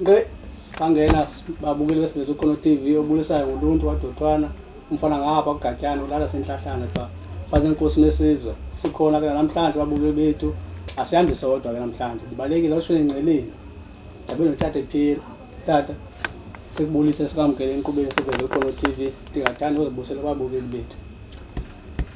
Ngqe sangena babukeli besifundisa ukhona TV obulisayo ngoluntu wadothwana umfana ngapha kugatyana ulala senhlahlana pha faze inkosi nesizwe sikhona ke namhlanje babukeli bethu asihambi sodwa ke namhlanje ndibalekile oshweni ngqeleni ndabe notata ephila tata sikubulise sikamkele enkqubeni sivele ukhona TV ndingathanda uzibusela babukeli bethu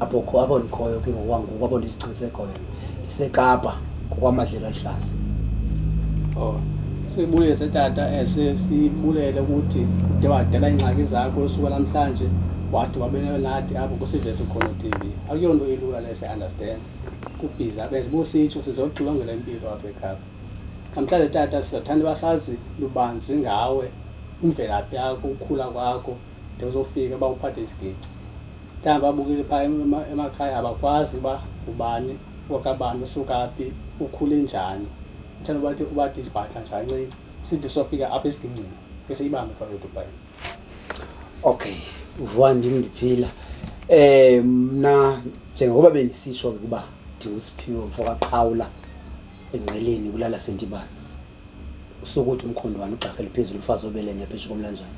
apho kho apho ndikhoyo ke ngokwangoku apho ndisiqinise khoyo ndisekapa ngokwamadlela aluhlaza oh sibuye setata ese eh, sibulele ukuthi ude wadala iingxaki zakho usuka namhlanje wathi wabenelo nathi apho kusivethu khona tv akuyonto ilula lese understand kubhiza benze bositsho sizoxilongela impilo apha ekhapha namhlanje tata sizothanda basazi lubanzi ngawe imvelaphi yakho ukukhula kwakho de uzofika uba uphathe isigici Mhlawumbi babukele phaa emakhaya abakwazi uba ngubani wakabani, usuka phi, ukhule njani. Mhlawumbi bathi ubathi ibhatla nje kancinci sithi sofika apha esigingcini ke siyibambe phaa eDubai. Okay, uvuka ndim ndiphila. Eh mna njengoba bendisisho ukuba ndingusiphiwo mfo kaqhawula engqeleni kulala sentibane. sokuthi umkhondwane ugxakhele phezulu umfazi obelenye pheshe komlanjana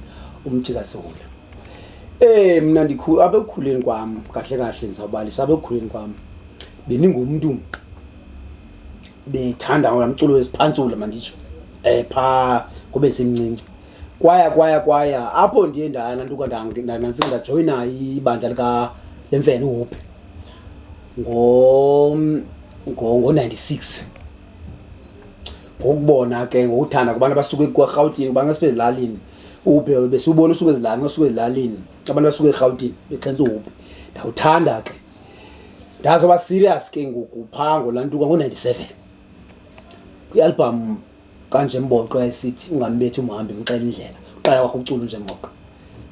umthi kasihula eh mina ndikhulu abekukhuleni kwam kahle kahle ndizawubalisa abekukhuleni kwam beningumntu bethanda ngola mculo wesiphantsula manditsho eh pha kube semncinci kwaya kwaya kwaya apho ndiye ndana ntuka ndanantsi ndajoyina ibandla lika lemfene uhope ngo ngo 96 ngokubona ke ngokuthanda kubantu abasuke ekurhawutini kubantu abasuke ezilalini ubhe besiwubona usuke ezilalini basuke ezilalini abantu abasuke erhawutini bexhentsa ubhe ndawuthanda ke ndazoba serious ke ngoku phaa ngolantuka ngo-ninety-seven kwialbham kanje mboqo yayisithi ungambethi umhambi ngixela indlela uqala kwakho ucula nje mboqo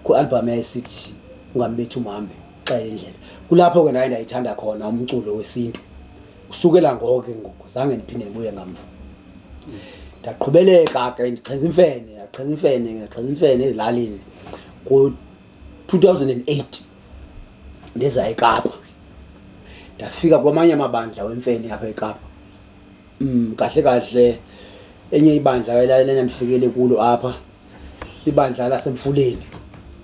kwialbham yayisithi ungambethi umhambi ngixela indlela kulapho ke naye ndayithanda khona umculo wesintu usukela ngoko ke ngoku zange ndiphinde ndibuye ngamva ndaqhubeleka ke ndixhenza imfene ndaqhenza imfene ndaqhenza imfene ezilalini ku-2008 ndiza ekapa ndafika kwamanye amabandla wemfene apha ekapa mm, kahle kahle enye ibandla elalena ndifikele kulo apha ibandla lasemfuleni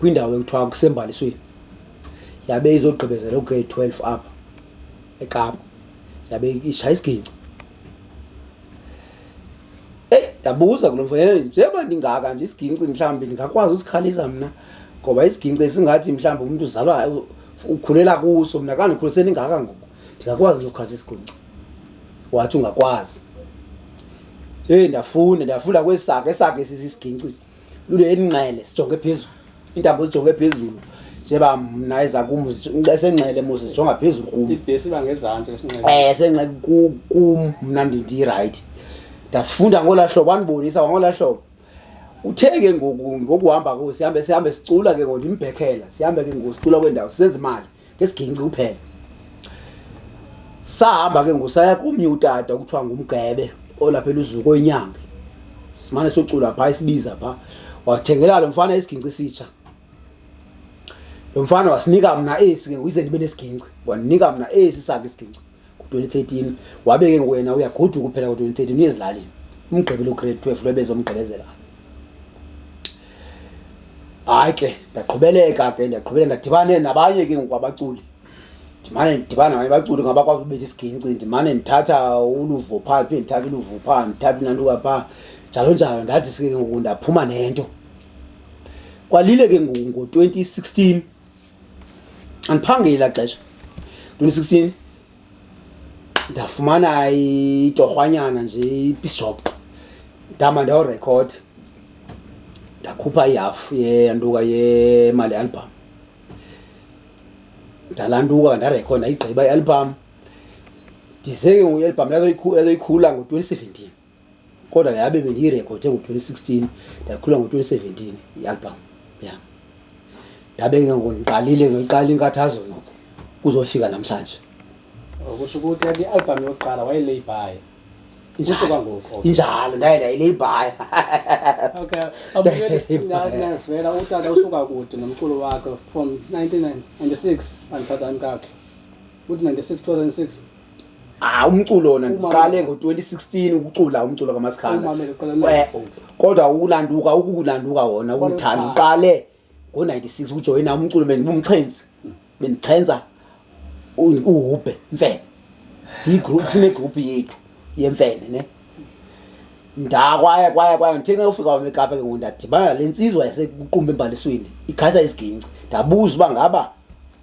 kwindawo ekuthiwa kusembalisweni yabe izogqibezela ugrade 12 apha ekapa yabe ishaya isigingci eyi ndabuza kulo mfo hey njengoba ndingaka nje isigingci mhlawumbi ndingakwazi usikhalisa mna ngoba isigingci esingathi mhlawumbi umntu uzalwa ukhulela kuso mna kandikhulise ndingaka ngoku ndingakwazi nokukhalisa isigingci wathi ungakwazi heyi ndafunda ndafunda kwesakhe esakhe sisisigingci lule elinxele sijonge phezulu intambo zijonge phezulu njeba mna eza kum esenxele mos zijonga phezulu kum eh, senxe kum mna ndindirayithi ndasifunda ngolaa hlobo andibonisa kwangolaa hlobo uthe ke ngoku ngokuhamba ko sihambe sihambe sicula ke ngoku ndimbhekela sihambe ke ngoku sicula kwendawo sisenza imali ngesiginci kuphela sahamba ke ngosaya kumnye utata okuthiwa ngumgebe olapha eluzuko inyanga simane socula phaa isibiza phaa wathengela lo mfana isiginci sitsha lo mfana wasinika mna esi ke uyize ndibe nesiginci wandinika mna esi sakhe isiginci 2013 wabe ke ngoku yena uyagoduka uphela ngo-2013 uyezilalini umgqibelo ugrade 12 lwebezomgqibezela hayi ke ndaqhubeleka ke ndaqhubeleka ndadibane nabanye ke ngoku abaculi ndimane ndidibana ngabanye baculi ngabakwazi ubetha isigingci ndimane ndithatha uluvo phaa phinde ndithatha uluvo phaa ndithatha inantuka phaa njalo njalo ndathi ke ngoku ndaphuma nento kwalile ke ngoku ngo-2016 andiphangeli ela xesha ndinisa kusini ndafumana itorhwanyana nje ipisop ndama ndawurekhoda ndakhupha ihafu yeyantuka yemali album ndalantuka ndarekhoda igqiba ialbum ndize ke ngoku ialbum yazoyikhula ngo-twenty seventeen kodwa yabe bendiyirekhode ngo-twenty sixteen ndakhula ngo-twenty seventeen ialbum yam ndabe ke ngoku ndiqalile ngiqala inkathazo noko kuzofika namhlanje kusho ukuthi ati album yokuqala wayeleyibhayi kusho kwangoku injalo ndaye ndayileyibhaya okay abuyelesivela utata usuka kude nomculo wakhe from nineteen ninety six andiphathani kakhe uthi ninety six two thousand six Ah umculo wona ndiqale ngo-2016 ukucula umculo kaMasikhanda. Eh, kodwa ukulanduka ukulanduka wona ukuthanda uqale ngo-96 ukujoyina umculo bendibumxhenzi bendixhenza uhubhe mfene yigroup sinegroup yethu yemfene ne ndakwaya kwaya kwaya ngithe ngayofika wami ekapa ke ngoku ndadibana le ntsizwa yasekuqumba embalisweni ikhaisa isiginci ndabuza uba ngaba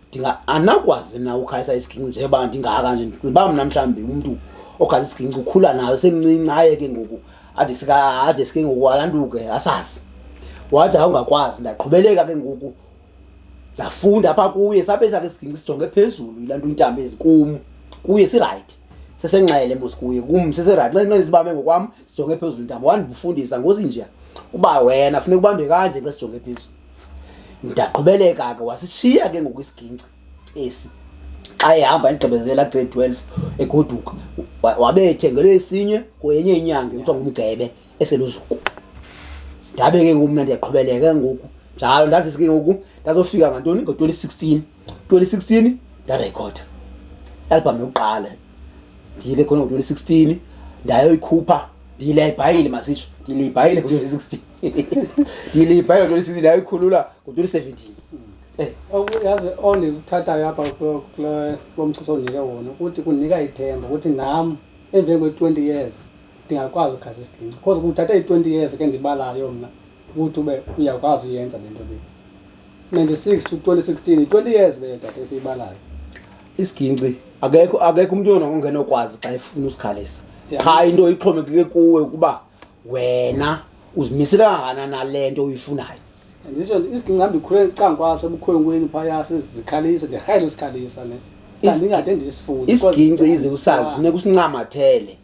ndinga anakwazi na ukhalisa isiginci njeba ndingaka nje ndiba mna mhlawumbi umntu okhalisa isiginci ukhula nayo semncinci aye ke ngoku ade sika ade sike ngoku alantuke asazi wathi awungakwazi ndaqhubeleka ke ngoku ndafunda apha kuye sabe sakhe isiginci sijonge phezulu ilantu intambo ezikumu kuye sirayithi sesenxele mos kuye kum sesirayithi nxele sibame ngokwam sijonge phezulu ntaba wandifundisa ngozinja uba wena funeka ubambe kanje xa sijonge phezulu ndaqhubeleka ke wasishiya ke ngoku isigingci esi xa ehamba endigqibezela grade twelve egoduka wabe ethengelwe esinye kwenye inyanga kuthiwa ngumgebe eseluzuku ndabe ke ngoku mna ndiyaqhubeleka ngoku njalo ndazisi ke ngoku ndazofika ngantoni ngo-twenty sixteen 2016 ndarekhota albhamu yokuqala ndiyile khona ngo-2016 ndayoyikhupha ndiyilebhayile masitsho ndiyilebhayile ngo-2016 ndiyilebhayile ngo-2016 ndayoyikhulula ngo-2017 eh. yazi ondikuthathayo apha kulo mchuso ondike wona ukuthi kundinika ithemba ukuthi nam emveni kwe-twenty years ndingakwazi ukughaza isiginci because kuthatha i-twenty years ke ndibalayo mna ukuthi ube uyakwazi uyenza le nto le 96 to 2016 20 years leyo tata esiyibalayo isigingci akekho akekho umuntu yona ongenokwazi xa efuna usikhalisa qha into ixhomekeke kuwe ukuba wena uzimisele kangana nale nto uyifunayo ndisho isigingci hamba ikhule cankwaso ebukhwenkweni phaya sizikhalisa ndirhayile usikhalisa ne kandingade ndisifuni isigingci ize usazi funeka usincamathele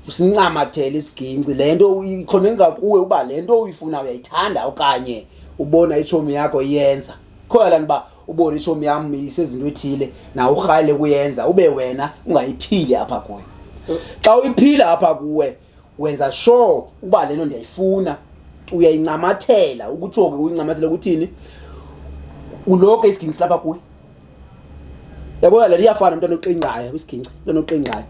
usincamathele isigingci le nto ikhonenga kuwe uba le nto uyifuna uyayithanda okanye ubona itshomi yakho iyenza khona laa nto uba ubone itshomi yam isezinto ethile na urhayile kuyenza ube wena ungayiphili apha kuwe xa uyiphila apha kuwe wenza sure uba le nto ndiyayifuna uyayincamathela ukutsho ke uyincamathela ukuthini uloke isigingci silapha kuwe yabona le liyafana umntwana oqingayo kwisigingci umntwana oqingayo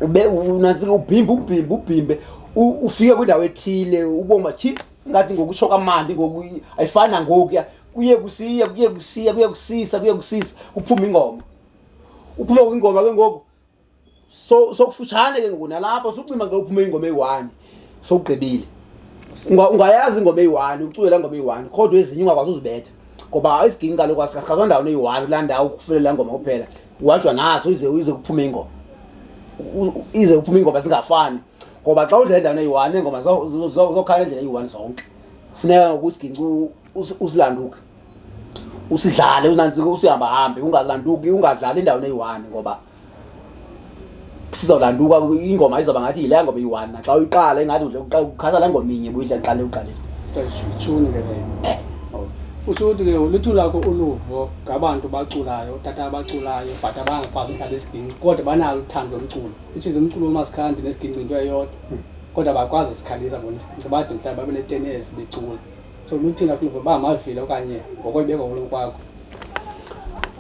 ube unantsika ubhimbe ubhimbe ubhimbe ufike kwindawo ethile uboma tyhi ngathi ngokutsho kamandi ngoku ayifani nangokuya kuye kusiya kuye kusiya kuye kusisa kuye kusisa kuphume ingoma uphuma kwingoma ke ngoku so sokufutshane ke ngoku nalapho sucima ke uphume ingoma eyi-one sowugqibile ungayazi ingoma eyi-one uculela ingoma eyi-one kodwa ezinye ungakwazi uzibetha ngoba isiginci kaloku asikhakhazwa ndawo neyi-one kulaa ndawo kufulela ingoma kuphela wajwa naso ize ize kuphume ingoma ize kuphume ingoma zingafani ngoba xa udlala endaweni eyi-one iingoma zokhala endlela eyi-one zonke funeka ngoku isiginci usilanduke usidlale unanzike usihamba hambe ungalanduki ungadlali endaweni eyi-one ngoba sizawulanduka ingoma izawuba ngathi yile ngoma eyi-one naxa uyiqala ingathi ukhasa la ngoma inye buyidla qale uqaleni tshuni ke leyo eh. usho ukuthi ke uluthu lakho uluvo ngabantu baculayo tata abaculayo but abangakwazi ukudlala isiginci kodwa banalo uthando lomculo which is umculo womasikhandi nesiginci into eyodwa hmm. kodwa bakwazi usikhalisa bona isiginci bade mhlawumbi babe netenesi becula soluthina kuluva uba mavile okanye ngokwebeko kulo kwakho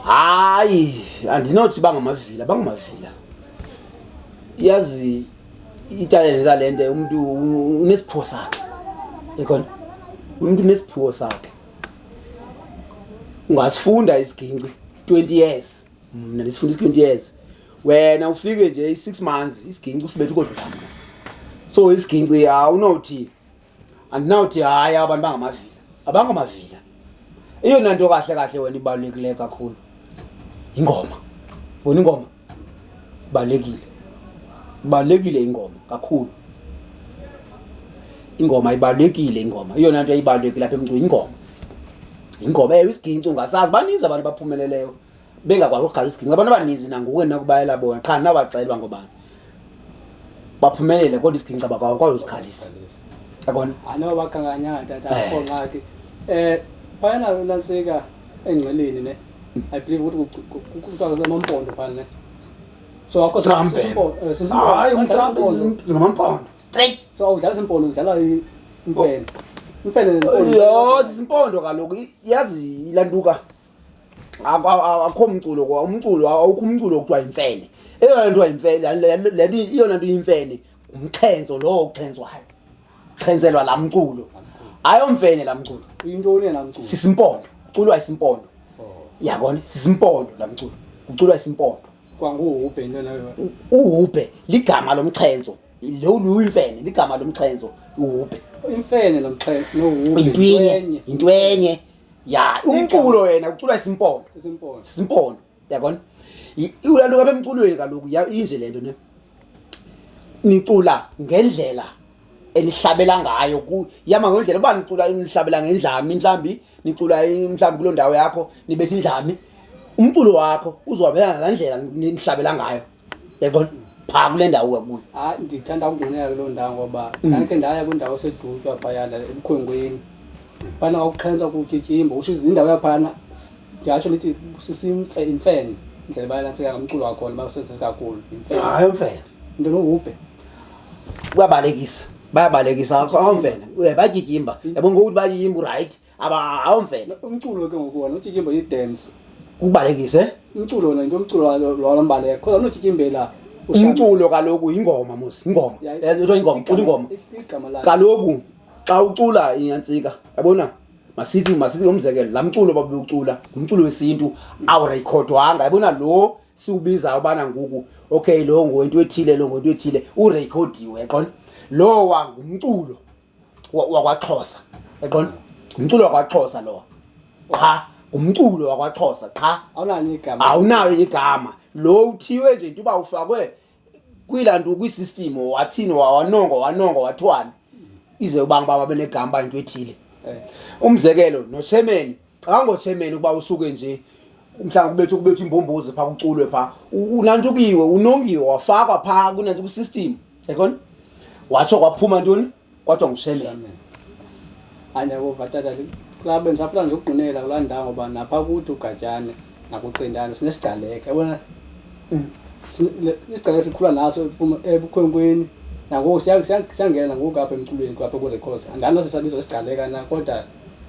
hayi andinothi bangamavila bangamavila yazi italente lale nto umntu unesiphiwo sakhe ekhona umntu unesiphiwo sakhe ungasifunda isigingci 20 years mna ndisifunda i-20 years wena ufike nje i-six months isigingci usibetha ukodlula so isigingci awunothi andinawuthi hayi abantu bangamavila abangamavila eyona nto kahle kahle wena ibalulekileyo kakhulu yingoma bona ingoma ibalulekile ibalulekile ingoma kakhulu ingoma ibalulekile ingoma iyona nto ibalulekile apha emntwini ingoma ingoma ewe isigingci ungasazi baninzi abantu baphumeleleyo bengakwazi ukugaza isigidi ngabantu abaninzi nanguwe nakubayela bona qha nawacelwa ngobani baphumelele kodwa isigidi cabakwazi usikhalisa yabona anoba bakhankanyanga tata eh. akho ngxaki um phayana nantsika engqeleni ne i believe ukuthi kuthiwa kusemampondo phana ne so akho hayi umtrampezingamampondo straight so awudlala isimpondo udlala imfene imfene yho zisimpondo kaloku yazi ilantuka akho mculo kwa umculo awukho umculo okuthiwa yimfene eyona nto yimfene le nto iyona nto yimfene ngumxhenzo lowo uxhenzwayo xhenzelwa laa mculo ayomfene laa mculo yintoni yena mculo sisimpondo uculwa isimpondo oh. yabona sisimpondo laa mculo uculwa isimpondo kwanguhubhe into nayo uhubhe ligama lomxhenzo lo luyimfene ligama lomxhenzo uhubhe imfene lomxhenzo nohubhe yintwenye yintwenye ya umculo yena ucula isimpondo Sesimpondo. simpondo yabona I- ulanto kabe emculweni kaloku ya- inje le nto ne nicula ngendlela enihlabela ngayo ku yama ngendlela uba nicula nihlabela ngendlami mhlawumbi nicula i- mhlawumbi kuloo ndawo yakho nibetha indlami umculo wakho uzohambelana nalaa ndlela ni- nihlabela ngayo yaqon phaa kule ndawo wakuyo hayi ndithanda ukungonela kuloo ndawo ngoba mm. ndakhe ndaya kwindawo esedutywa phayana ebukhwenkweni phana kwakuxhentsa kutyityimba utsho indawo yaphana ndingatsho ndithi sisimfe imfene indlela bayalantseka ngamculo wakhona basebenzise kakhulu imfene hayi imfene into nohubhe kuyabalekisa bayabalekisa awumfene batyityimba yabo ngokuthi batyityimba urayithi aba awumfela umculo ke ngoku wona utyikimbo yi-dance kubalekise umculo wona into umculo walo mbaleka khoza unotyikimbela umculo kaloku yingoma mos ingoma into ingoma cula ingoma kaloku xa ucula inyantsika yabona masithi masithi ngomzekelo laa mculo babewucula ngumculo wesintu awurekhodwanga yabona lo siwubizayo ubana ngoku okay lo ngowento ethile lo ngowento ethile urekhodiwe qona lowa ngumculo wakwaXhosa eqonda ngumculo wakwaXhosa lowa qha ngumculo wakwaXhosa qha awunalo igama awunalo igama lo uthiwe nje into uba ufakwe kwilantu kwisystem wathini wawanongo wanongo wathiwani ize ubanga uba babenegama uba into ethile eh. umzekelo noshemeni Cabanga ngotshemen ukuba usuke nje mhlawumbi kubethu kubethu imbombozi phaa kuculwe phaa unantukiwe unongiwe wafakwa phaa kunanto kwisystem yayibona watsho kwaphuma ntoni kwathiwa ngusheleme andiyakova tata kulaa bendisafuna nje ukugqinela kulaa ndawo ngoba napha kuthi ugatyane nakucindane sinesigcaleka yabona mm. isigcaleka sikhula naso ebukhwenkweni nangoku siyangena nangoku apha emculweni kwapha ku-records andani nosesabizo isigcaleka na kodwa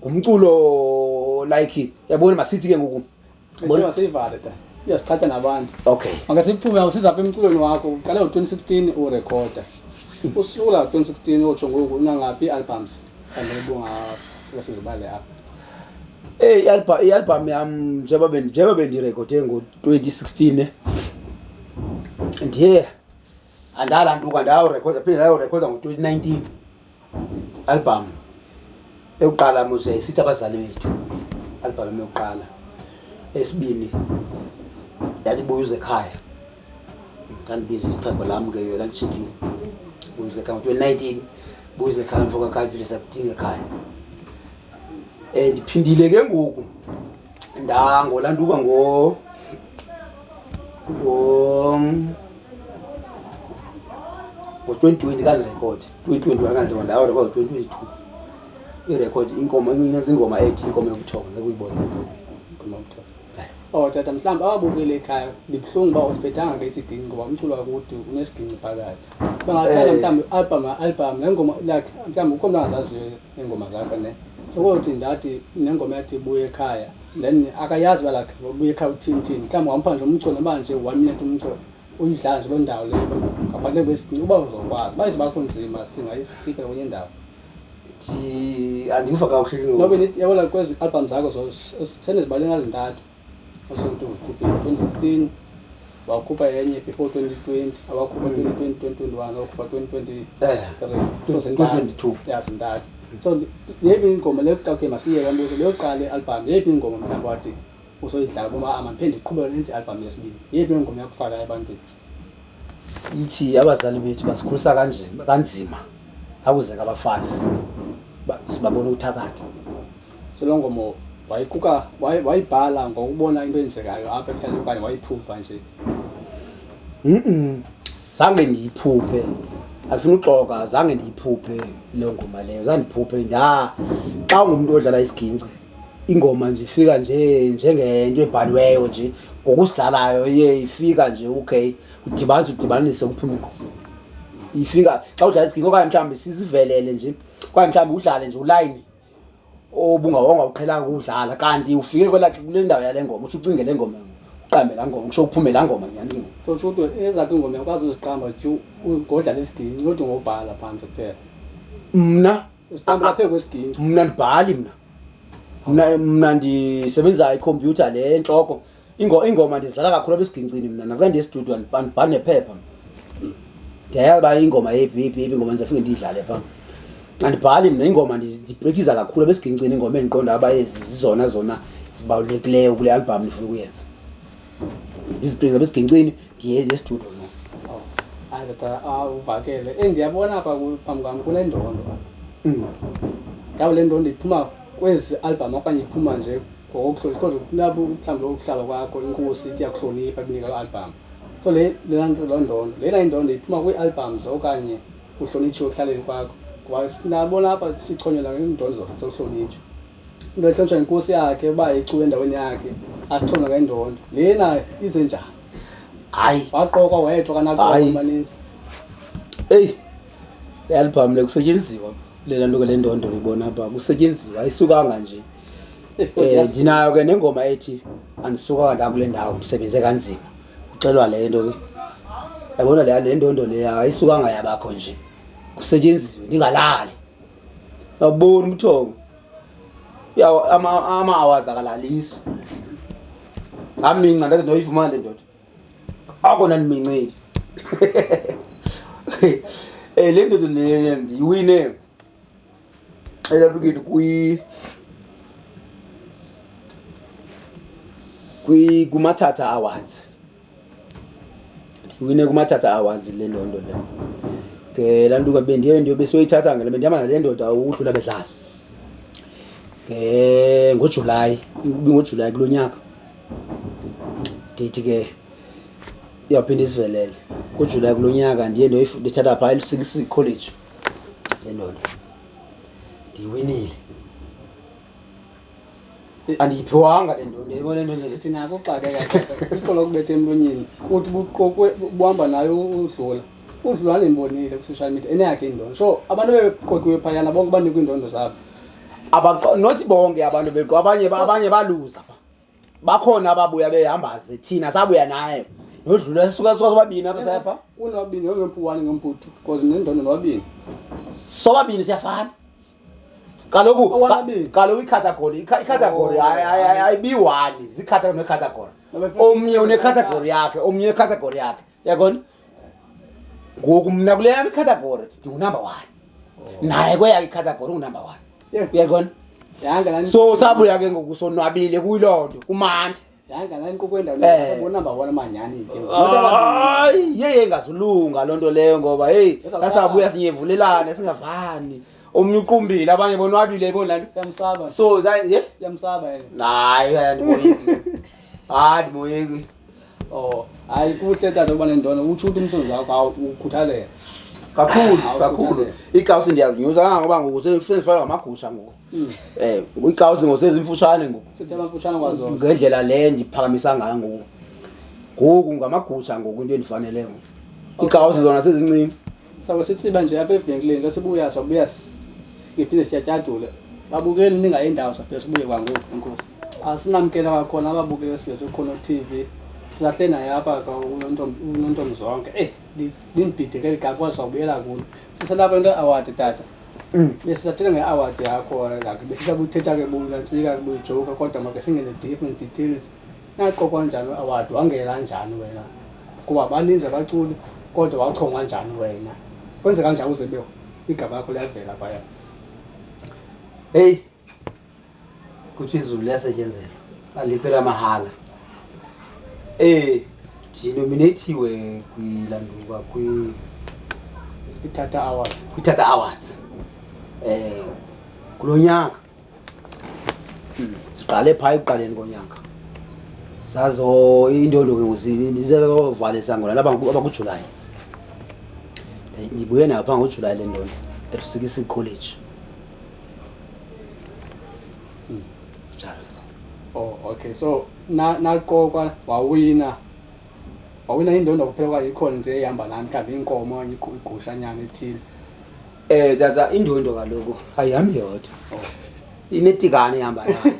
ngumculo like yabona masithi ke ngoku Bona seyivale ta. Uyasiqhatha nabantu. Okay. Makasiphume usiza apha emculweni wakho. Uqale ngo-2016 urecorda. Usula 2016 otsho ngoku unangaphi i-albums? Kanti ubunga sike sizibale apha. Hey, i-album i-album yam njengoba bendi njengoba bendirekhode ngo-2016 ndiye Andala nduka ndayo record phinde ndayo record ngo-2019 album eyokuqala muze isithi abazali bethu album yokuqala esibini yathi buya uze ekhaya ndandibiza isitheko lam ke yona ndishikile buya uze ekhaya ngo-2019 buya uze ekhaya mfokakhaya phinde sakudinga ekhaya um ndiphindile ke ngoku ndango landuka ngo ngo ngo 2020 ka record 2021 ka ndonda awu record 2022 i record inkomo inezingoma ethi inkomo yokuthoma bekuyibona inkomo yokuthoma Oh tata mhlawumbi awabukele ekhaya ndibuhlungu uba usibethanga ke isidinci ngoba umculo wakuthi unesidinci phakathi bangathanda eh. mhlawumbi album album le ngoma lakhe mhlawumbi ukhona angazaziyo iingoma zakhe ne sokothi ndathi nengoma yathi ibuye ekhaya then akayazi uba lakhe ubuye ekhaya uthini thini mhlawumbi wampha nje umculo noba nje one minute umculo uyidlala nje loo ndawo leyo ngaphandle kwesicinci uba uzokwazi bayithi bakho nzima singayisitika kwenye indawo andiva kakuhle yabona kwezi album zakho sendizibale ngazintathu 2016 wakhupha enye before 2020 awakhupha 2020 2021 awakhupha 2023 so zintathu ya zintathu so yeyiphi ingoma leyo kuqala okay masiyeke mbuzo leyo kuqala i-album yeyiphi ingoma mhlawumbi wathi usoyidlala kuma ama ndiphinde ndiqhubeke nenze i-album yesibili yeyiphi ingoma yakufaka ebantwini ithi abazali bethu basikhulisa kanzima kanzima akuzeka abafazi sibabona ukuthakatha Solo ngoma wayiquka wayibhala ngokubona into eyenzekayo apha ekuhlaleni okanye wayiphupha nje zange ndiyiphuphe andifuna uxoka zange ndiyiphuphe loo ngoma leyo zandiphuphe nda xa ungumntu odlala isigingci ingoma nje ifika nje njengento ebhaliweyo nje ngokusidlalayo iye ifika nje okay udibanise udibanise kuphume ingoma ifika xa udlala isigingci okanye mhlawumbi sizivelele nje okanye mhlawumbi udlale nje ulayini obungawonga uqhelanga ukudlala kanti ufike kwela kule ndawo yale ngoma usho ucinge le ngoma uqambe laa ngoma usho uphume laa ngoma nyani so tsho uthi ezakho ingoma yakwazi uziqamba ju ngodlala isiginci kodwa ngobhala phantsi kuphela mna uziqamba laphe kwesiginci mna ndibhali mna mna mna ndisebenzisa ikhompyutha le entloko Ingo ingoma ndizidlala kakhulu apha esigincini mna nakuba ndiyestudio ndibhala nephepha. Ndiyayazi uba ingoma yephi yephi yephi ingoma ndizafike ndiyidlale phaa. Andibhali mna ingoma ndibrekiza kakhulu apha esigincini ingoma endiqonda uba ezi zizona zona zibalulekileyo kule albhamu ndifuna ukuyenza. Ndizibrekiza apha esigincini ndiye estudio no. Oh, hayi kodwa ah, uvakele. Eh, ndiyabona apha ku- phambi kwam kule ndondo. Mm. Ndawo le ndondo iphuma kwezi albhamu okanye iphuma nje ngokokuhlonipha kodwa kulapho mhlawumbi ukuhlala kwakho inkosi ithi yakuhlonipha ikunika loo albhamu so le loo ndondo lena indondo iphuma kwii-albhamu okanye uhlonitshiwe ekuhlaleni kwakho ngoba sinabona apha sichonyela ngeendondo zokuhlonitshwa into ehlonitshwa yinkosi yakhe uba icuba endaweni yakhe asichonywa ngendondo lena ize njani hayi waqokwa wedwa kanaqoka maninzi eyi le albhamu le kusetyenziwa lela nto ke le ndondo uyibona pha kusetyenziwa ayisukanga nje um ndinayo ke nengoma ethi andisukanga ndakule ndawo ndisebenze kanzima uxelwa le nto ke yabona le le ndondo leya ayisukanga yabakho nje kusetyenziwe ndingalali awuboni umthongo ama-awazi akalalisi ngaminca ndathi ndoyifumane ndoda akona ndiminceli Eh le ndoda le ndiyiwine elapliketi kwi kwi kumathatha awards ndiwine kumathatha awards le ndondo le ke laa ntuka bendiye ndiyo besoyithatha ngela bendihamba nale ndoda udlula bedlala ke ngojulayi ibingojulayi kulo nyaka ndithi ke iyawuphinda isivelele kujulayi kulo nyaka ndiye ndithatha phaa elusikisi college lendoda ndiyiwinile andiyiphiwanga le ndoda yebo le ndoda ndithi nako uxakeka iqola kubetha emlonyeni uthi buqokwe buhamba nayo udlula udlula ndimbonile kwi-social media eneyakhe indondo so abantu bebeqokiwe phayana bonke banikwa iindondo zabo not bonke abantu beqo abanye abanye baluza bakhona ababuya behambaze thina sabuya nayo yodlula sisuka sisuka sobabini apha sayapha kunobabini yongempu one ngempu two because nendondo nobabini sobabini siyafana kaloku Owababini. kaloku icategory ica- icategory Oh. ayi- ayi- ayi- ayibiwani zicategory necategory Nabefuna omnye icategory unecategory yakhe omnye unecategory yakhe yaqona ngoku mna kule yam ikhathagori ndingunumber one naye kweyakhe ikhathagori ungunumber one Yeah. uyaqona Yanga la so sabuya ke ngoku sonwabile kuyiloo nto kumandi yanga la inkqubo endawo Eh. sabona ba wona manyani ke. hayi yeye ingazulunga loo nto leyo ngoba heyi Ezawuqala. sasabuya sinyevulelane singavani omnye uqumbile abanye bonwabile iboni laa nto Yamsaba. so that- ye Yamsaba yena. hayi andimoyeki andimoyeki Oh, hayi kuhle tata uba nendona utsho ukuthi umsebenzi wakho awu ukhuthalela. kakhulu Awukhuthalele. kakhulu iikawusi ndiyazinyusa kangangoba ngoku se- sendifana ngamagusha ngoku Eh, um iikawusi ngoku sezimfutshane ngoku Sithe amafutshane kwazona. ngendlela le ndiphakamisa ngayo ngoku ngoku ngamagusha ngoku into endifanele ngoku iikawusi zona sezincinci Sawube sitsiba nje apha evenkileni xa sibuya sabuya siphinde siyatyadule. Babukeli ningayi ndawo saphinde sibuye kwangoku enkosi. Asinamkela kwakhona ababukeli esiveze khona ku-TV. Sisahle naye apha ka- uNontom- unontombi zonke. Eyi li- limbhideke eli gama kodwa sawubuyela kulo. Siselapha into award tata. Besisathetha nge-award yakho like besisabuthetha ke bunantsika ke buyijoka kodwa make singene deep in details. Naqokwa njani award wangela njani wena? Kuba baninzi abaculi kodwa wachongwa njani wena? Kwenze kanjani uze be igama lakho liyavela kwaya? Hey. Kuthi izulu liyasetyenzelwa. Aliphela mahala. Eh, ndinominathiwe kwilanduka kwi Ithatha awards. kwiTata Awards. Eh, kulo nyaka siqale phaa ekuqaleni konyaka sazo intondo ke ngokuzizovala isango nalaba abakujulayi ndibuye nayo phaa ngojulayi le ntondo elusikisa ikholeji hmm, njalo oh okay so naqokwa wawina wawina indondo kuphekwa ikhona nje ehamba nami mhlawumbi inkomo okanye igu- igusha nyana ethile Eh tata indondo kaloku ayihambi yodwa. Inetikane ihamba nayo.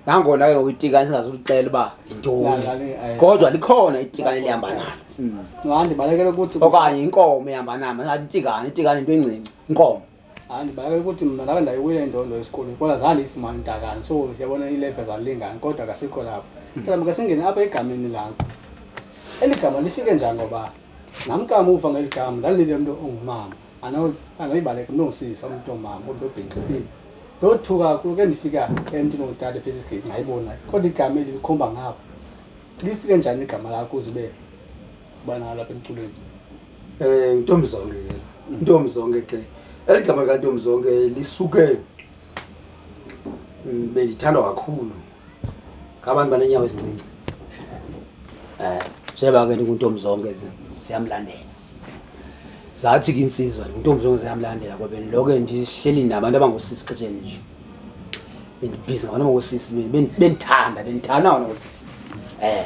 Nangona ke ngoku itikane singazulixela uba yintoni. Nalani, eh. Kodwa likhona itikane elihamba nalo. nxa ndibalekele ukuthi Okanye inkomo ehamba nami, ngathi itikane, itikane into encinci, inkomo. andibake ukuthi mna ndabe ndayiwile indondo esikolweni kodwa zange ndiyifumane intakani so ndiyabona iileve zalingani kodwa kasikho lapho mhlawumbi ke singene apha egameni lakho eli gama lifike njani ngoba nam kamuva ngeli gama ndandilile mntu ongumama anoyibaleka mntu ongisisa umntu omama umntu obhinqibile ndothuka kakhulu ke ndifika emntwini ongutata phela isigeci ndayibona kodwa igama eli likhomba ngapha lifike njani igama lakho uze ube ubana alapha emculweni um eh, ntombi zonke ke mm. ntombi zonke ke eli gama likantombi zonke lisuke mm, bendithandwa kakhulu ngabantu banenyawo ezincinci um eh, njeba ke ndinguntombi zonke ziyamlandela zathi ke insizwa ndinguntombi zonke ziyamlandela ngoba ndilo ke ndihleli nabantu abangosisi xesheni nje bendibhizi ngabantu abangosisi bendithanda bendithanda ngabantu abangosisi um eh.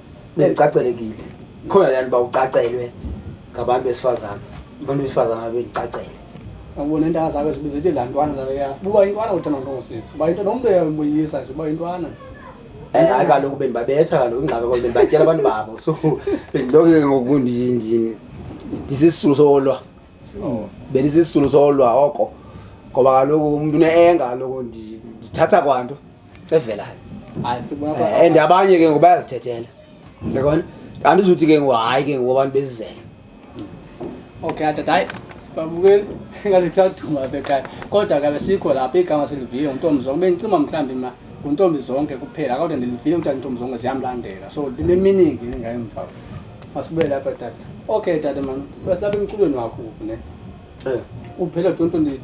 bendicacelekile khona laa nto uba ucacelwe ngabantu besifazane abantu besifazane abendicacele abona intanga zakho zibiza ethi laa ntwana laleya uba intwana uthanda nto ngosisi uba into nomntu uyamoyisa nje uba intwana hayi eh, kaloku bendibabetha kaloku ingxaka kalo bendibatyela abantu babo so bendiloke ngoku ndisisisulu solwa oh. bendisisisulu solwa oko ngoba kaloku umntu une-enga kaloku ndithatha kwanto evelayo eh, and abanye ke ngoku bayazithethela yabona andizuthi ke ngoku hayi ke ngoku abantu bezizela okay atata hayi babukeli ngathi kusaduma apha ekhaya kodwa kabe sikho lapha igama seliviye nguntombi zonke bendicima mhlawumbi ma nguntombi zonke kuphela kodwa ndiliviye kuthiwa ntombi zonke ziyamlandela so ndineminingi ndingayemva masibuyele lapha tata okay tata mani lapha emculweni wakho ne eh. uphela 2022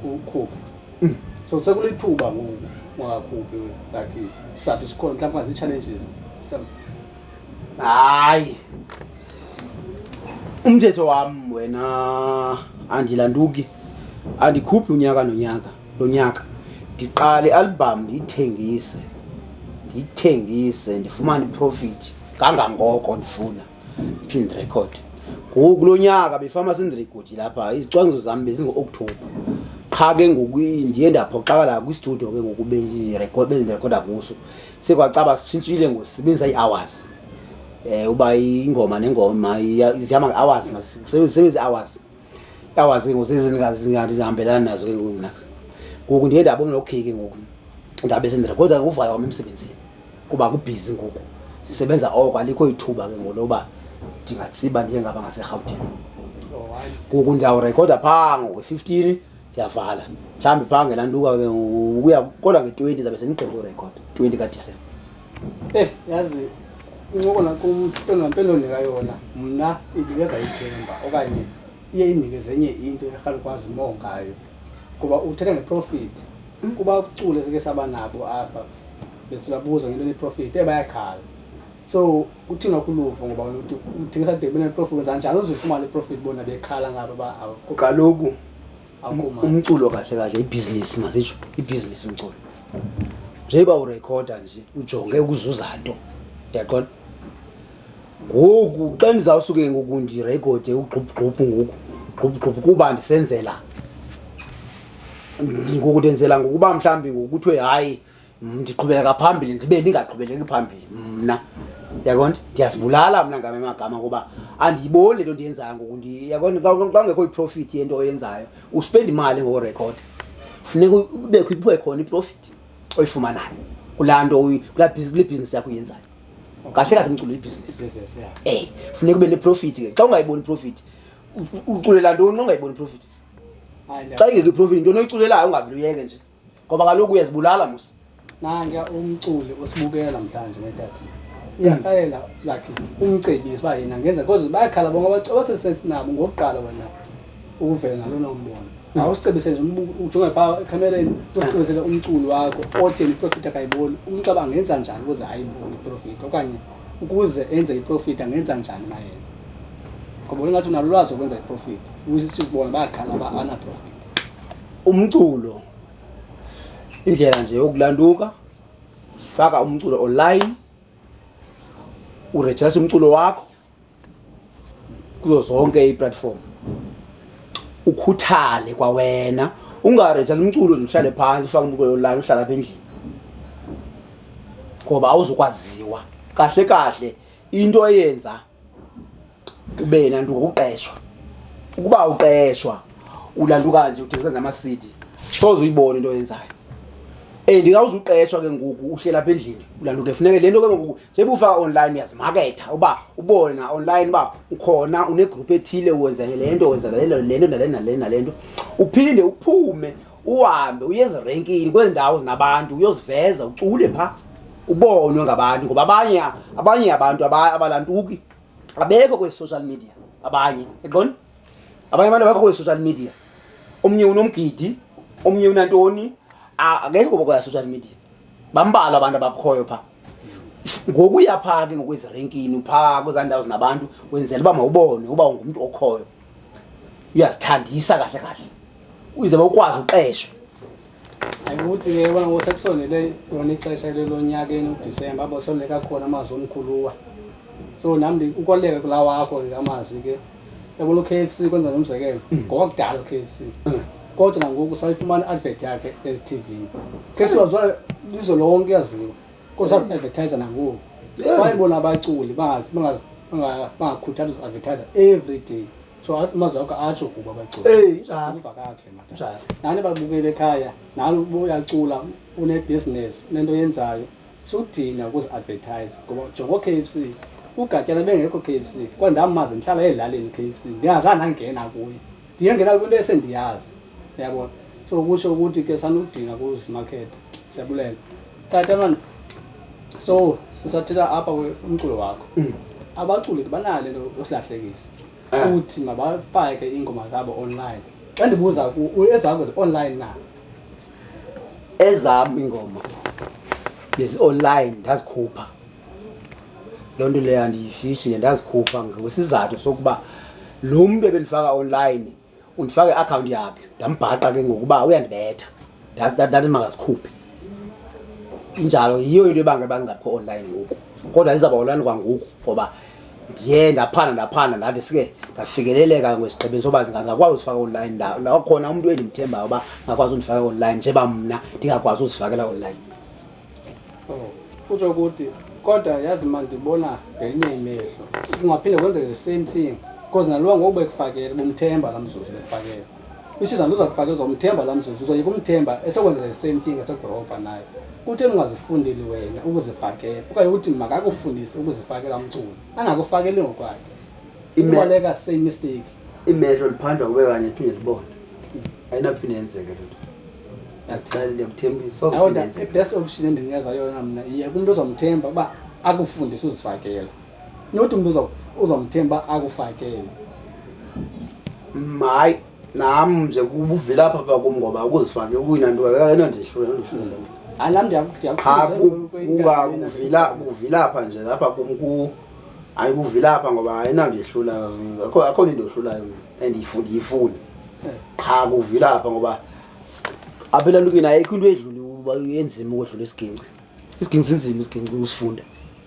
ukhupha Mm. So sekulithuba ngoku ungakhuphi like isizathu sikhona mhlawumbi ungazii-challenges hayi umthetho wam wena andilanduki andikhuphi unyaka nonyaka lo nyaka ndiqale ialbham ndiyithengise ndiyithengise ndifumane iprofit kangangoko ndifuna Field record. Ngoku kulo nyaka befama senza record lapha izicwangciso zam bezingo-October. Qha ke ngoku ndiye ndaphoxakala kwistudio ke ngoku bendirecord bendirekoda kuso. Sekwacaba sitshintshile ngosebenzisa ii-hours. Eh uba ingoma nengoma zihamba nge-hours masisebenzise i-hours. I-hours ke ngoku sezingazingathi zihambelana nazo ke ngoku mna. Ngoku ndiye ndabona okay ke ngoku ndabe sendirekoda ngokuvala kwam emsebenzini. kuba kubhizi ngoku sisebenza oko alikho ithuba ke ngoloba ndingatsiba ndiye ngaba ngaserhawutini ngoku ndiyawurekhoda phaa ngokwe-fifteen ndiyavala mhlawumbi phaa ngelantuka ke ukuya kodwa nge-twenty zabe sendigqibe urekhod twenty kadisemba eyi eh, yazi incoko nakumpendonika yona mna indikezayithemba okanye iye indike zenye into erhalukwazi moo ngayo kuba uthetha ngeprofit kuba ukucula sike saba nabo apha besibabuza ngento neprofit e bayakhala so kuthina kuluvo ngoba uthi umthengisa de beneprofit wenza njani uzifumana iprofit bona bekhala ngabo ba kaloku umculo kahle kahle ibhizinisi masitsho ibhizinisi umculo njengoba urekhoda nje ujonge ukuzuza nto ndiyaqona ngoku xa ndizawusuke ngoku ndirekhode ugxubhugxubhu ngoku ugxubhugxubhu kuba ndisenzela ngoku ndenzela ngokuba mhlawumbi ngoku kuthiwe hayi ndiqhubeleka phambili ndibe ndingaqhubeleki phambili mna yaqonda ndiyazibulala mna ngam emagama ngoba andiyiboni le nto ndiyenzayo ngoku yaqonda xa kungekho iprofithi yento oyenzayo uspenda imali ngokurekhoda funeka ubekho ibuye khona iprofithi oyifumanayo kulaa nto kulaa bhizinisi yakho uyenzayo kahle kahle umculo ibhizinisi ey funeka ube neprofit ke xa ungayiboni profit uculela ntoni ongayiboni profit xa ingekho iprofit into noyiculelayo ungavele uyeke nje ngoba kaloku uyazibulala musa nanka umculi osibukela mhlanje netata uyahlalela like umcebisi uba yena ngenza because bayakhala bonke abantu abasesensi nabo ngokuqala wena ukuvela nalona umbono awusicebisele nje ujonge pha ekhamereni usicebisele umculo wakho othi iprofit akayiboni umnxeba angenza njani ukuze ayibone iprofit okanye ukuze enze iprofit angenza njani naye ngoba ungathi unalo lwazi okwenza iprofit ukuthi bona bayaqala ba ana profit umculo indlela nje yokulanduka faka umculo online uregister umculo wakho kuzo zonke iplatform ukhuthale kwawena ungareja lomculo nje uhlale phantsi ufake umbuko yolala uhlala apha endlini ngoba awuzukwaziwa kahle kahle into eyenza ube nantu ngokuqeshwa ukuba uqeshwa ulanduka nje uthengisa nje ama-cd soze uyibone into oyenzayo and kawuzuqeshwa ke ngoku uhlela apha endlini ulanduke funeke le nto ke ngoku sebufaka online yazimaketha uba ubona online uba ukhona unegroup ethile wenza le nto wenza le nto le nto nale nale nale nto uphinde uphume uhambe uye ezirenkini kwezi ndawo zinabantu uyoziveza ucule phaa ubonwe ngabantu ngoba abanye abanye abantu abalantuki abekho kwezi social media abanye eqoni abanye abantu abakho kwezi social media omnye unomgidi omnye unantoni akekho kwezi social media bambalwa abantu abakhoyo phaa ngokuya phaa ke ngokwezirenkini phaa kwezaa ndawo zinabantu wenzela uba mawubone uba ungumntu okhoyo uyazithandisa kahle kahle uze ukwazi uqeshwa ayikuthi ke bona ngosekusondele lona ixesha lelonyaka enokudisemba abosoleka khona amazwi omkhuluwa so nam ukoleka kulaa wakho ke amazwi ke yabona u-k f c kwenza nomzekelo mm. ngowakudala u-k f c mm. kodwa nangoku sayifumana i-advert yakhe ezithivini k f c wazwa lizwe lonke yaziwa kodwa sazi-advertise nangoku wayebona abaculi bangakhuthali uzi-advertise every day so amazwi akho atsho kuba abaculi uva kakhe mata nani babukele ekhaya nani uyacula unebhizinesi unento yenzayo sudinga ukuzi-advertise ngoba jongo k f c ugatyana bengekho k f c kwa ndamazi ndihlala ezilalini k f c ndingazange ndangena kuye ndiyengena kwinto esendiyazi yabona so kusho ukuthi ke sanudinga kuzimakhetha siyabulela tata mani so sisathela apha umculo wakho mm. abaculi ke banale nto yosilahlekisa ah. uthi mabafake iingoma zabo online xa ndibuza ezakho zi-online na ezam iingoma bezi-online ndazikhupha loo nto leyo andiyifihli ndazikhupha ngesizathu sokuba lo mntu ebendifaka online undifaka i-akhawunti yakhe ndambhaqa ke ngokuba uyandibetha ndathi makazikhuphe injalo yiyo into ebanga ebangingaphi online ngoku kodwa ndizawuba online kwangoku ngoba ndiye ndaphanda ndaphanda ndathi sike ndafikeleleka ngwesigqibeni soba ngingakwazi uzifaka online ndawo ndawo khona umntu endimthembayo uba ngakwazi undifaka online njeba mna ndingakwazi uzifakela online oh, kutsho ukuthi kodwa yazi ma ndibona ngelinye imehlo kungaphinde kwenzeke the same thing because nalowa ngoku bekufakele bumthemba la mzuzu bekufakele isizana uza kufakela uzomthemba laa mzuzu uzoyeka umthemba esekwenzela i-same thing esegoropa naye kutheni ungazifundeli wena ukuzifakela okanye uthi makakufundise ukuzifakela umculo angakufakeli ngokwakhe ibaleka same mistake imehlo liphandwa kube kanye phinde libone ayinaphinde yenzeke loo nto best option endininikeza yona mna iye kumntu ozomthemba uba akufundise uzifakela nothi umntu uzamthemba akufakele hayi nam nje kubuvela apha pha kum ngoba ukuzifake ukuyina nto eno ndihlulakuvila nje lapha kum ku hayi kuvila apha ngoba ayina ndihlula akho nto into ohlulayo and ndiyifuni eh. qha kuvila apha ngoba apha elantukeni ayikho into edlula uba enzima ukodlula isiginci isiginci sinzima isiginci usifunda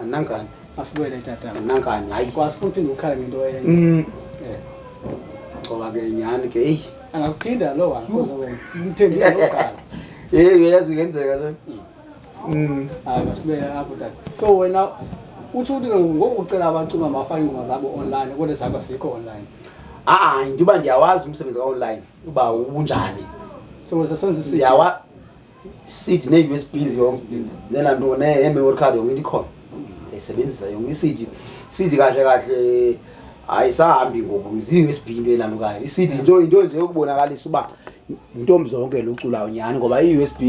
Anangani. Asibuyele tata. Anangani. Hayi kwasi futhi ukhala ngento enye. Mm. Eh. Ngoba ke nyani ke hey. Angakuphinda lo wa kuze wena. Umthembile lo gala. Eh uyazi ngenzeka lo. Mm. mm. Hayi masibuyele apho tata. So wena uthi uthi ngoku ucela abacula mafake ingoma zabo online kodwa zakho sikho online. Ah, ngiba ndiyawazi umsebenzi ka online uba ubunjani. So sasenzisa. Ndiyawazi. i-cd nee-usb zela nto nee-memory card yonke into ikhona ndayisebenzisa yonke i-cd i-cd kahle kahle ayisahambi ngoku zi-usb into elandukayo i-cd nto into nje yokubonakalisa uba intombi zonke luculayo nyhani ngoba i-usb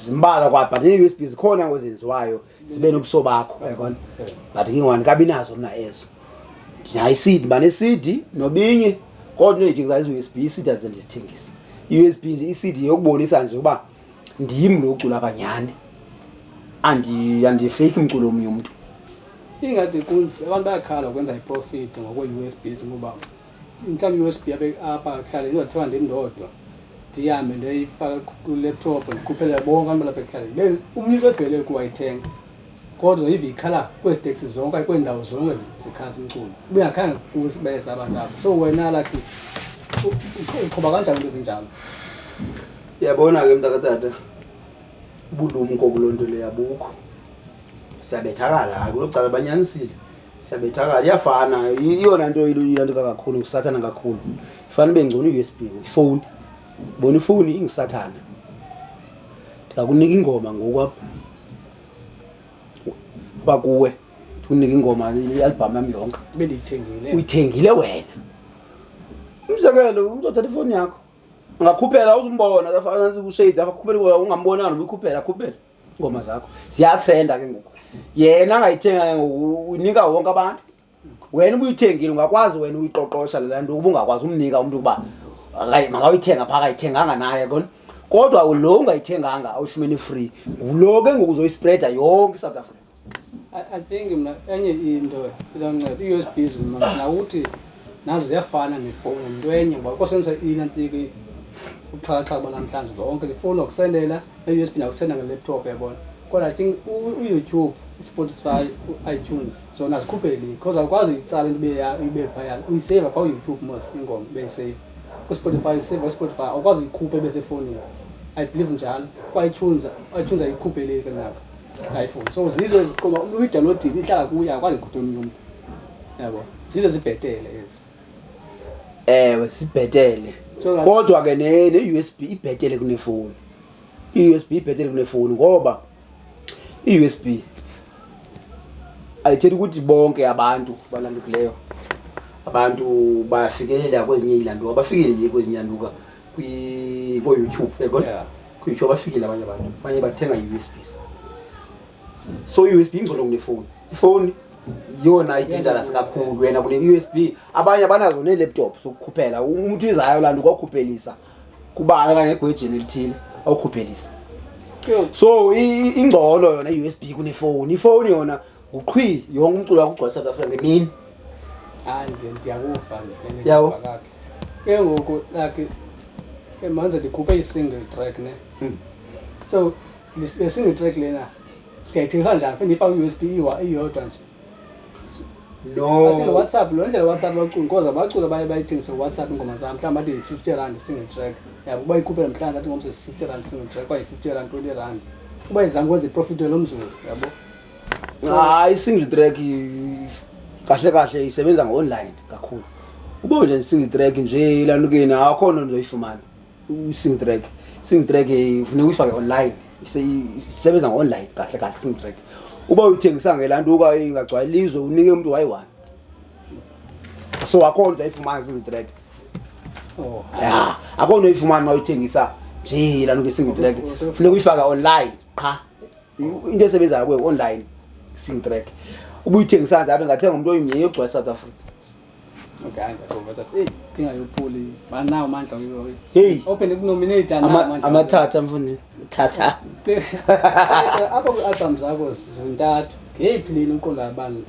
zimbala kwa but nee-usb zikhona ngozenziwayo sibe nobuso bakho yabona but ngingwani kabi nazo mna ezo ndinayo isidi mane isidi nobinye kodwa into endidingisayo izi-usb isidi andize ndizithengise i-usb nje isidi yokubonisa nje ukuba ndim lo ucula kanyhani andifeyiki umculo omnye umntu ingade kunzi abantu bayakhala ukwenza iprofit ngokwe-usb ngoba Mhlawumbi i-USB yabe apha ekuhlaleni ndizothiwa ndim ndodwa ndihambe ndoyifaka kulaptop ndikhuphele bonke abantu balapha ekuhlaleni umnye bebhele ukuwayithenga kodwa ive ikhala kwezi teksi zonke okanye kweendawo zonke zikhaza umculo ubengakhange kusibeza abantu abo so wena lakhi uqhuba kanjani into ezinjalo uyabona ke mntakatata ubulumko kuloo nto leyo abukho siyabethakala hayi kuloo cala banyanisile Sabethakala iyafana iyona nto ilandeka kakhulu ngusathana kakhulu ifana ibe ngcono i-usb ifowuni bona ifowuni ingusathana ndingakunika ingoma ngoku apha uba kuwe ndikunika ingoma ialbham yam yonke uyithengile wena umzekelo umntu othatha ifowuni yakho angakhuphela uzumbona afana ushades akhuphela ungambonani ubuyikhuphela akhuphela ingoma zakho ziyatrenda ke ngoku yena angayithenga ke ngoku unika wonke abantu wena ubuyithengile ungakwazi wena uyiqoqosha lela nto ukuba ungakwazi umnika umntu ukuba makawuyithenga phaa akayithenganga naye kona kodwa lo ungayithenganga awufumene free ngulo ke ngoku uzoyispreda yonke isouth africa I, I think mna enye into ilancedo i-USB zimana nawuthi nazo ziyafana nefowuni yinto enye ngoba kosebenzisa inantike ubuxhakaxhaka banamhlanje zonke ndifowuni wakusendela ne-usb nakusenda nge-laptop yabona kodwa i think u- uyoutube ispotify u-itunes zona zikhuphe link because awukwazi uyitsala into ibe ya- ibe phayana uyiseva phaa uyoutube mos ingoma beyiseyiva kwispotify uyiseva kwispotify awukwazi uyikhupha ibe sefowunini i believe njalo kwa-itunes itunes ayikhupheleyo ke nako iphone so zizo eziqoba umntu uyidalodini ihlala kuye akwazi kude omnye umntu yabo zizo zibhetele ezi ewe sibhetele So- kodwa ke ne- ne-u s b ibhetele kunefowuni i-u s b ibhetele kunefowuni ngoba i-u s b ayithethi ukuthi bonke abantu balandukileyo abantu bayafikeleleka kwezinye iilanduka bafikele nje kwezinye ilanduka kwi-bo youtube yabona Yeah. kuyitsho bafikile abanye abantu abanye bathenga i-usbs so i-usb ingcono kunefowuni ifowuni yiyona i-dangerous kakhulu wena kune-usb abanye abanazo nee-laptop zokukhuphela umntu izayo laa nto kwakhuphelisa kubana kanye egwejeni elithile awukhuphelisa so i- i- ingcono yona i-usb kunefowuni ifowuni yona nguqhwi yonke umculo wakugcwala south africa ngemini hayi ndiyakuva yabo ke ngoku like manje ndikhuphe i-single track ne hmm. so le single track lena ndiyayithengisa njani fe ndiyifake u-usb iyodwa nje no whatsapp lo ndlela whatsapp bacula koza bacula baye bayithengise whatsapp ingoma zam mhlawumbi athi yi-fifty rand single track yabo uba ikhuphela mhlawumbi athi ngomso yi-sixty rand single track kwayi-fifty rand twenty rand uba izange kwenza iprofit welo mzuzu yabo hayi single track kahle kahle isebenza ngo-online kakhulu ubo nje single track nje ilanukeni akho nto ndizoyifumana single track single track funeka uyifake online isebenza ngo-online kahle kahle single track uba uyithengisa ngelantuka ingagcwali lizwe unike umntu wayi-one so akho nto uzayifumana single track oh. ya akho nto uyifumana uma uyithengisa nje ilantuka single track funeka uyifake online qha into esebenzayo kuwe online sing track ubuyithengisa nje abe ngathenga umuntu oyimnye yogcwala south africa amathatha mfundini thatha apha kwi-albham zakho zintathu ngeyiphi leni uqonda abantu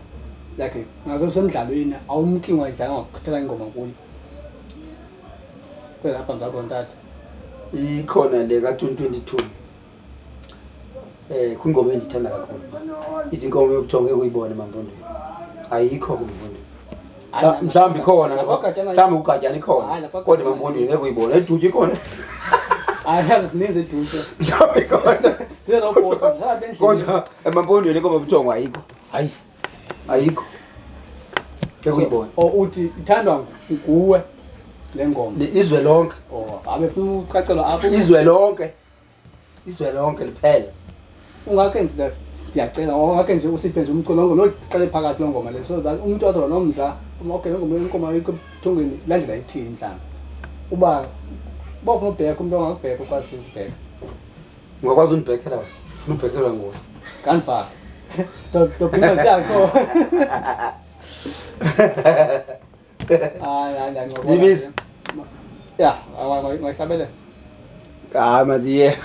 like ngake semdlalweni awumki ngwadlanga ngakukhuthela ingoma kuyo kwezi albham zakho ntathu ikhona le ka-2022 Eh kwingoma endithanda kakhulu. Ithi inkomo yokujonga ekuyibone mamfundo. Ayikho kumfundo. Mhlawumbi ikhona ngapha. Mhlawumbi ugatyana ikhona. Kodwa mamfundo ngeke uyibone. Eduty ikhona. Ayazi zininzi eduty. Mhlawumbi ikhona. Zero boss. Kodwa emampondweni inkomo yokujonga ayikho. Hayi. Ayikho. Ekuyibona. O uthi ithandwa nguwe le ngoma. Izwe lonke. Oh, abefuna ucacelwa apho. Izwe lonke. izwe lonke liphele ungakhe nje ndiyacela ongakhe nje usiphe nje umculo ngoma loziqale phakathi loo ngoma le so that umntu azoba nomdla okay loo ngoma inkomo ayikho ebuthongweni landlela ithini mhlawumbi uba uba ufuna ubheka umntu ongakubheka ukwazi ukubheka ungakwazi undibhekela wena funa ubhekelwa nguwe kandifaka ndophinda ndisiyakho Ibisi. Ya, ngayisabele. Ah, maziye.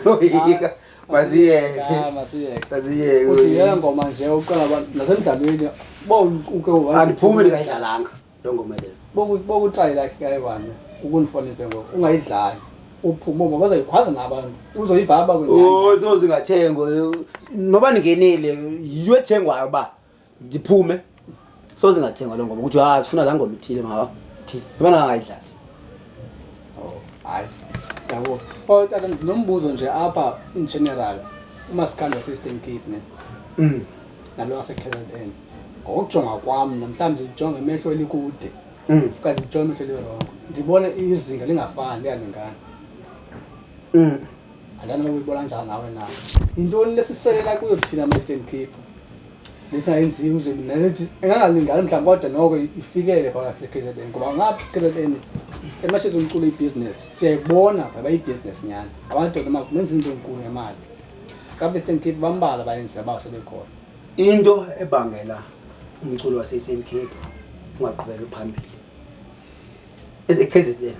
Yoyika. Maziye. Ah, maziye. Maziye. Uthi yena ngoma nje uqala abantu nasemdlalweni. Bo uke wathi. Andiphumi ndikayidlalanga lo ngoma le. Bo bokutrayi lakhe kayiwane. Ukunifonele ngoku ungayidlali. uphume uma bazoyikhwaza nabantu uzoyivaba kwenye. Oh, sozingathengwa. Noba ningenile, yiyo ethengwayo ba. ndiphume soze ngathengwa loo ngoma ukuthi ha sifuna laa ngoma ithile mawa thile yabona angayidlali oh, hayi yabo o oh, tata ndinombuzo nje apha in general umasikandi waseastern cape ne mm. nalo wasekzn ngokujonga kwam namhlawumbi ndijonga emehlo elikude mm. okanye ndijonga emehlo elirongo ndibona izinga lingafani liyalingana mm. Andana nokuyibona njani nawe na? Yintoni lesiselela kuyo thina ma Eastern Cape? Lisayenziwe uze mina lethi engangalingani mhlawumbi kodwa noko ifikele phakathi kase-KZN ngoba ngapha KZN emashezi umculo ibhizinesi siyayibona pha bayibusiness nyana amadoda ma benza into enkulu ngemali kabe Eastern Cape bambala bayenzi abawo sebekhona into ebangela umculo wase-Eastern Cape ungaqhubeki phambili eze-KZN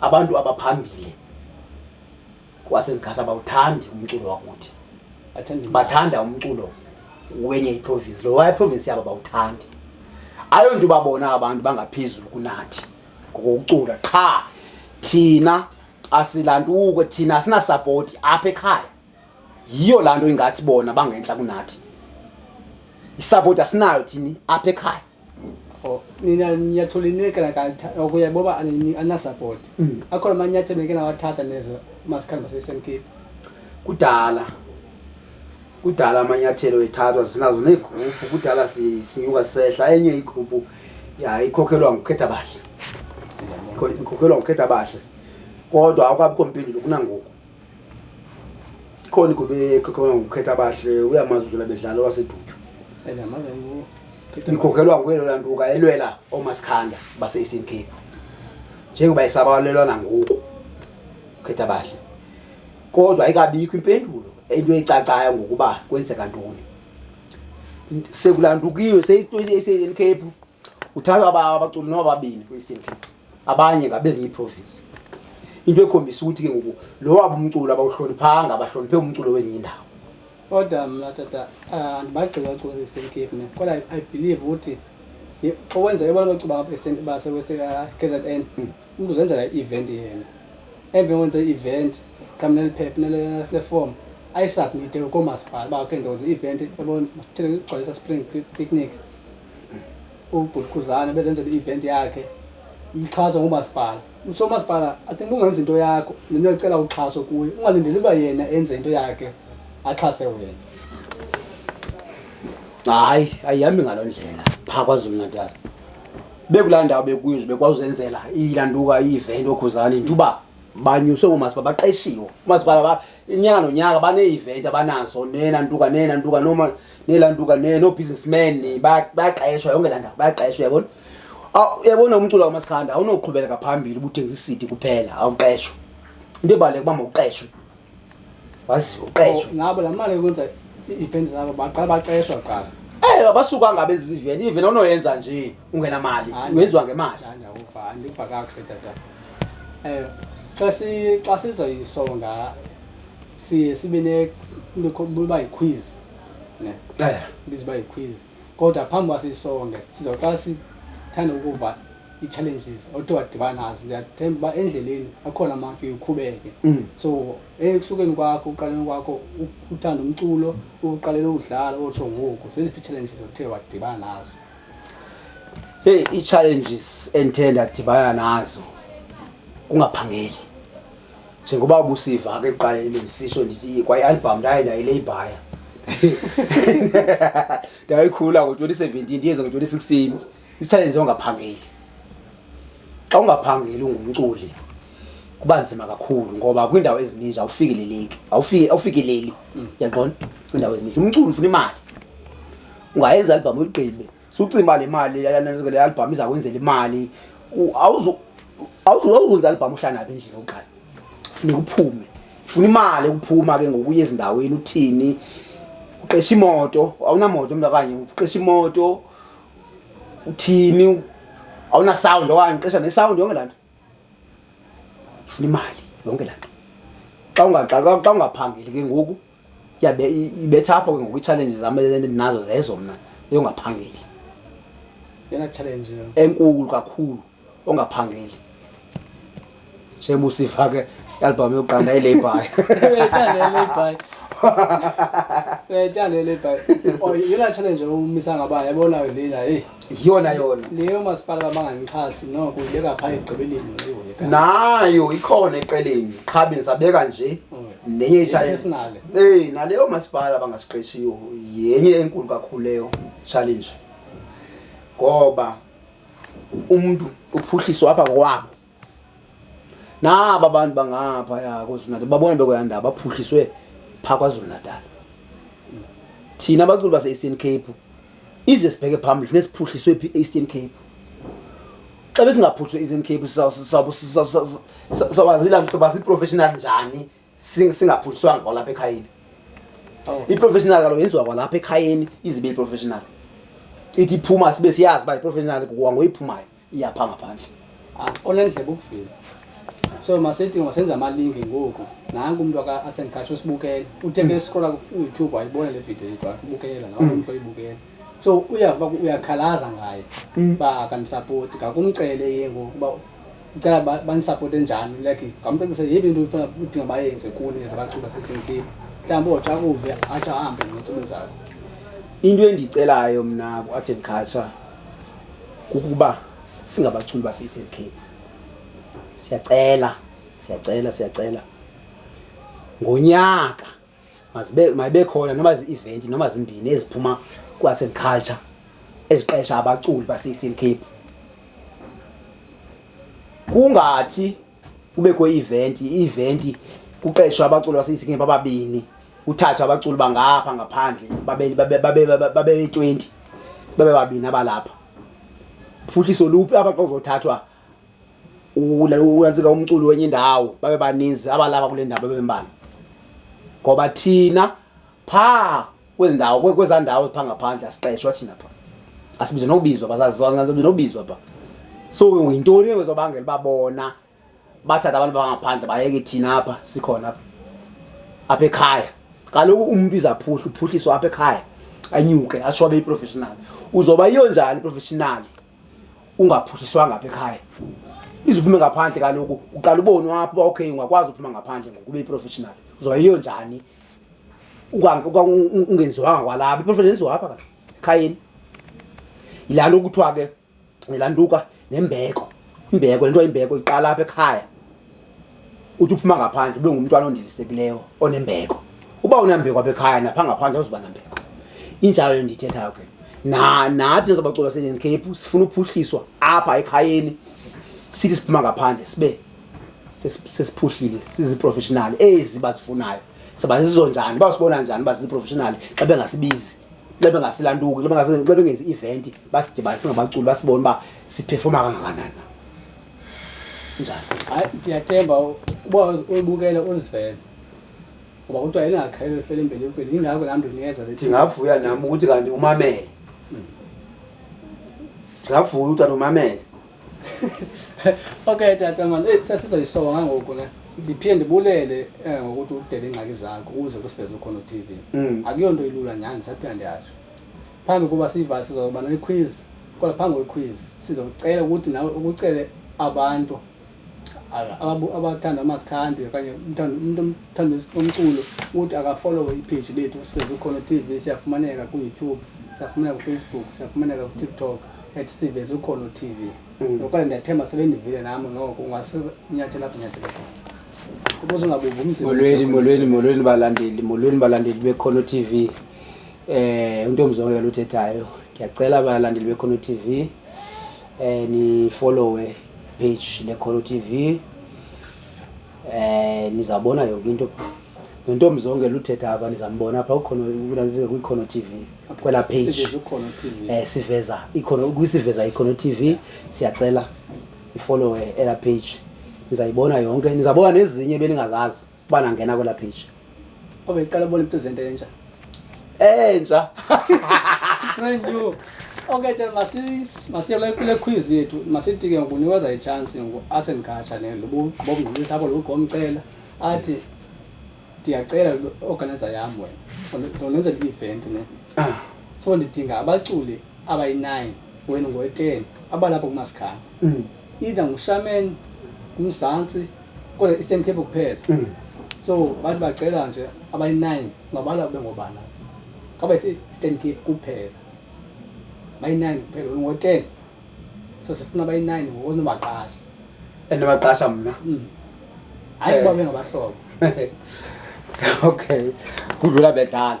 abantu abaphambili kwasezikhasa bawuthandi umculo wakuthi bathanda umculo wenye iprovinsi lo waye iprovinsi yabo bawuthandi ayo nto ubabona abantu bangaphezulu kunathi ngokucula qha thina asilantuko thina asinasapoti apha ekhaya yiyo laa nto ingathi bona bangentla kunathi isapoti asinayo thini apha ekhaya Oh, nina nyatho linye kana ka okuya boba ani ana support mm. akhona manyatho neke na wathatha nezo masikhani base SMK kudala kudala amanyathelo ethathwa zinazo neegroupu kudala sinyuka sehla enye igroupu ya ikhokhelwa ngukhetha bahle ikhokhelwa ngukhetha bahle kodwa awukabikho mpendulo kunangoku ikhona igobe ekhokhela ngokukhetha abahle uyamazi udlula bedlala owasedutshu ikhokhelwa nguye lona ntuka elwela oomasikhanda base-eastern cape njengoba isabalelwa nangoku ukhetha abahle kodwa ayikabikho impendulo into eyicacayo ngokuba kwenzeka ntoni sekulandukiwe seyitoecape Uthathwa aba abaculi nobabini kwi-ECMP. Abanye ngabezinye iiprovince. Into ekhombisa ukuthi ke ngoku lo wabo umculo abawuhloniphanga abahloniphe umculo wezinye indawo. Kodwa mna tata ah, andibagxili abaculi kwi-Eastern Cape mna kodwa I- I believe ukuthi ye- xa wenza ebona bacuba apha eSt- baseWest ah, KZN umntu uzenzela i-event yena emveni wenza i-event xa mna liphepha nele- leform ayisubmite koomasipala uba ke ndonza i-event yabona masithele kugcwalisa spring Pic- picnic ubhuti khuzane bezenzela i-event yakhe ixhaswa ngumasipala usomasipala i think ungenza into yakho nento yocela uxhaso kuye ungalindeli uba yena enze into yakhe axhase wena hayi ayihambi ngaloo ndlela phaa kwazulu natal bekulaa ndawo bekuyo nje bekwazi uzenzela ilanduka i-event okhuzane nje uba banyuswe ngomasipala baqeshiwe umasipala inyanga nonyaka banee-event abanazo nena ntuka nena ntuka noma nelantuka noo-businessmen bayaqeshwa yonke laa ndawo bayaqeshwa yabona yabona umculo wamasikhanda awunoqhubeleka phambili ubuthengisa isidi kuphela awuqeshwa into ebaluleka uba mawuqeshwe wazi uqeshwe oh, ngabo laa mali yokwenza ii-event zabo baqala baqeshwa kuqala Eh abasuka ngabe eziveni even onoyenza nje ungena mali wenziwa ngemali. Ngithanda ukuva andikuva kakuhle tata. Eh xa si xa sizoyisonga siye sibe nekuba yi-quiz ne eh. ibiza uba yi-quiz kodwa phambi uba siyisonge sizawuqala sithanda ukuva ii-challenges othe wadibana nazo ndiyathemba uba endleleni akhona amafika uqhubeke mm. so ekusukeni kwakho ukuqaleni kwakho uthanda umculo ukuqalele ukudlala otsho ngoku zeziphi ii-challenges othe wadibana nazo heyi ii-challenges endithe ndadibana nazo kungaphangeli njengoba busiva ke ekuqaleni bendisisho ndithi kwayialbham ndaye ndayileyibhaya ndayikhula ngo-twenty seventeen ndiyenze ngo-twenty sixteen isitshalenje ongaphangeli xa ungaphangeli ungumculi kuba nzima kakhulu ngoba kwiindawo ezininji awufikeleleki awufikeleli yaqona kwiindawo ezininji umculi ufuna imali ungayenza albham uyigqibe sucima le mali le albhamu izakwenzela imali awuzokwenza albhamu uhlanaphi endlini oqala funeka uphume funa imali ukuphuma ke ngokuya ezindaweni uthini uqesha imoto awunamoto mntu okanye uqesha imoto uthini awunasound okanye uqesha nesound yonke laa nto funa imali yonke laa nto xa ungaxaxa xa ungaphangeli ke ngoku yabe ibetha apho ke ngoku itshalenji zam endinazo zezo mna yongaphangeli yena challenge enkulu kakhulu ongaphangeli semusiva ke ialbhamu yokuqanda ilabor Ngiyithanda le bhayi. Oh, yona challenge umisa ngaba yabona lena hey. Iyona yona. Leyo masipala bamangangixhasi noko ubeka pha egqibeleni ngiwe. Nayo ikhona eqeleni. Qha bensabeka nje. Mm. nenye ichallenge hey naleyo masipala bangasiqeshiyo yenye enkulu kakhulu leyo challenge ngoba umuntu uphuhliswa apha kwabo naba abantu bangapha ya KwaZulu-Natal babona bekoyanda baphuhliswe pha KwaZulu-Natal thina abaculi base-Eastern Cape ize sibheke phambili funeka siphuhliswe phi e-eastern cape xa besingaphuhliswe e-eastern cape sawazilaba ziprofessional njani singaphuhliswanga kwalapha ekhayeni oh. iprofessional kaloku yenziwa kwalapha ekhayeni izibe iprofessional ithi iphuma sibe siyazi uba iprofessional kwangoyiphumayo iyapha ngaphandle ah, onendlebe ukuvila so masithi masenza amalingi ngoku nanku umntu asendikhatsho usibukele uthenge scrolla kuyoutube wayibona le video yethu akubukela nawo umntu oyibukela so uyava uyakhalaza ngaye mm. uba akanisapoti ngakumcele ye ngoku uba ndicela bandisapote njani like ngamcacise yeyiphi into ifuna udinga bayenze kuni ezabaqhuba sesentini mhlawumbi otsha kuve atsho ahambe notsho umzalo into endiyicelayo mna ku-art and culture kukuba singabaculi base-eastern cape siyacela siyacela siyacela ngonyaka mazibe mayibe khona noma zi-event noma zimbini eziphuma kwas and culture eziqesha abaculi base-eastern cape kungathi kubekho i-event i-event kuqeshwa abaculi baseyisikeni bababini uthathwa abaculi bangapha ngaphandle babe-twenty babe babini abalapha phuhliso luphi apha xa uzothathwa ulantsika umculi wenye indawo babe baninzi abalapha kule ndawo babe mbalwa ngoba thina phaa kwezi ndawo kwezaa ndawo zipha ngaphandle asiqeshwa thina pha asibize nokubizwa basazibize nokubizwa pha so yintoni ezobangela uba bona bathatha abantu bangaphandle bayeke thina apha sikhona apha apha ekhaya kaloku umntu izaphuhla uphuhliswa apha ekhaya anyuke atsho abe yiprofessional uzoba yiyo njani iprofessional ungaphuhliswanga apha ekhaya iziphume ngaphandle kaloku uqala ubonwa apho uba okay ungakwazi uphuma ngaphandle ngokuba yiprofessional uzoba yiyo njani ungenziwanga kwalapha iphofela lenziwa apha ekhayeni yilaa nto kuthiwa ke yilaa ntuka nembeko imbeko le nto imbeko iqala apha ekhaya uthi uphuma ngaphandle ube ngumntwana ondilisekileyo onembeko uba unambeko apha ekhaya napha ngaphandle awuzuba nambeko injalo ndiyithethayo ke na nathi nezabacula senenkephu sifuna uphuhliswa apha ekhayeni sithi siphuma ngaphandle sibe sesiphuhlile siziprofessional ezi bazifunayo siba zizo njani basibona njani uba ziziprofessional xa bengasibizi xa bengasilantuki xa bengenzi i-event basidibanise ngabaculi basibone uba siphefoma kangakanani njani hayi ndiyathemba uba uyibukele uzivele ngoba kuthiwa elingakhelwe lifele embelekweni yingako laa mntu ndiyeza ndingavuya nam ukuthi kanti umamele singavuya ukuthi kanti umamele okay tata mani eyi sesizoyisoka ngangoku ne ndiphinde ndibulele eh, ngokuthi udele iingxaki zakho uze kusiveze ukhona utv Mm. akuyonto ilula nyhani ndisaphila ndiyasho phambi koba siyiva sizoba nequiz kodwa phambi kwequiz sizokucela ukuthi nawe ukucele abantu ala- ababu- abathanda amasikhanti okanye umthanda- umntu omthanda umculo ukuthi akafolowe ipage lethu siveze ukhona tv siyafumaneka kuyoutube siyafumaneka kufacebook siyafumaneka kutiktok ethi sive zikhona utv mm. okanye ndiyathemba sebendivile nam noko ungasinyathela apho nyathela kubuze ungabuva umzimolweni molweni molweni balandeli molweni balandeli bekhono tv um eh, untombi zonke yaluthethayo ndiyacela balandeli bekhono tv um eh, nifolowe page lekhono tv Eh nizabona yonke into pha. Nontombi zonke luthetha apha nizambona apha ukhona ukunanzike kwiKhono TV kwela page. Siveza ukhona TV. Eh siveza ikhona ukusiveza iKhono TV siyacela ifollowe ela page. Nizayibona yonke nizabona nezinye beningazazi bana ngena kwela page. Obe iqala bona ipresent entsha. Entsha. Brand new. Okay, tell masis masiye la kule quiz yethu. Masitike ngokuniweza ichance ngo art and culture ne lobo bobungqulisa apho lokho omcela. Athi ndiyacela organizer yam wena. Ndonenza i-event ne. Ah. So ndidinga abaculi abayi-9 wena ngoyi-10 abalapho kumasikhala. Mm. either ngushamen ngumzantsi kodwa eastern cape kuphela mm. so bathi bacela nje abayi-nine ngabala kube ngobana kaba ise-eastern cape kuphela bayi-nine kuphela ngo-ten so sifuna bayi-nine ngokonobaqasha and baqasha mna mm. hayi kuba eh. bengabahlobo okay kudlula bedlala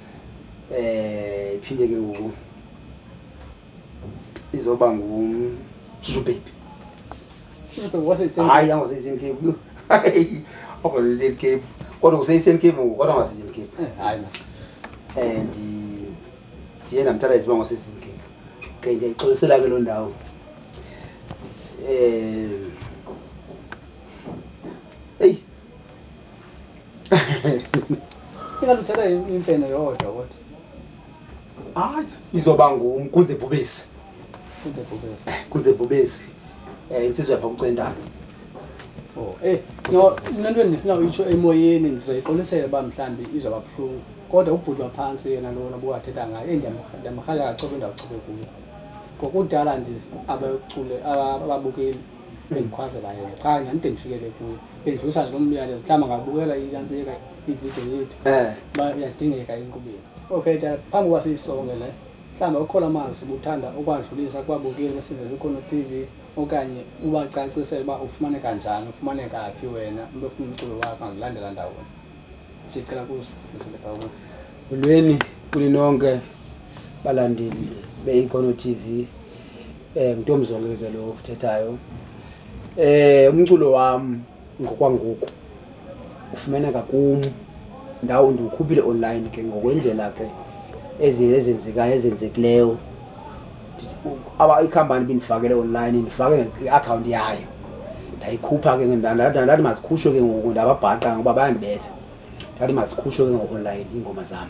eh iphinde ke ngoku izoba ngumshushu baby hayi angoseisen cape ogoseisen cape kodwa useisen cape ngoku kodwa angoseisen cape eh, hayi and ndiye ndamthatha iziba ngoseisen cape okay ndiyayixolisela ke loo ndawo um Ingathi uthatha imfene yodwa kodwa. Hayi, izoba ngumkunze bhubesi. Kunze bhubesi. Eh, kunze bhubesi. Eh, insizwa yapha kucentana. Oh, eh, no, mina into endifuna uyitsho emoyeni ndizoyiqolisela uba mhlawumbi izoba buhlungu. Kodwa ubhuti waphansi yena lona buwathetha ngayo, eyi ndiyamrhalela kacobe ndawucobe kuyo. Ngokudala nje abacule ababukeli bendikhwaze baye qha ndandide ndifikele kuyo bendidlusa nje lo myalezo mhlawumbi angabukela iyantsika ividiyo yethu eh. uba uyadingeka enkqubeni okay ta phambi uba siyisonge le mhlawumbi ukhona amazwi buthanda ukwadlulisa kubabukeli besingeze khona tv okanye ubacacisele uba ufumaneka njani ufumaneka phi wena umntu ofuna umculo wakho angilandela ndawona ndicela kuzilebawo ulweni kulinonke balandeli beikono tv Eh mntomzonke ke lo uthethayo. Eh umculo wam ngokwangoku ufumaneka kum ndawo ndiwukhuphile online ke ngokwendlela ke ezinto ezenzekayo ezenzekileyo aba ikhampani bindifakele online ndifake i-akhawunti yayo ndayikhupha ke ndathi mazikhutshwe ke ngoku ndababhaqa ngoba bayandibetha ndathi mazikhutshwe ke ngo-online iingoma zam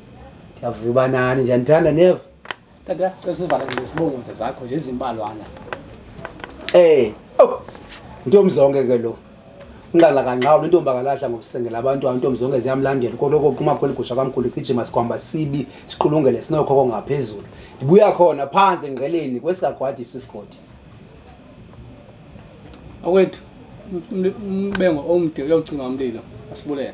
ndiyavuya uba nani nje ndithanda neva tata cesivala nje sibongoze zakho nje ezimbalwana um oh ntomzonke ke lo unqala kanqawulo intombi akalahla ngokusengela abantu ayo intombi zonke ziyamlandela koloko kuma kweli gusha kamkhulu igijima sikwamba sibi siqulungele sinokhoko ngaphezulu ndibuya khona phansi engqeleni kwesikagwadisa isigodi awethu umbengo omde uyocinga umlilo asibulele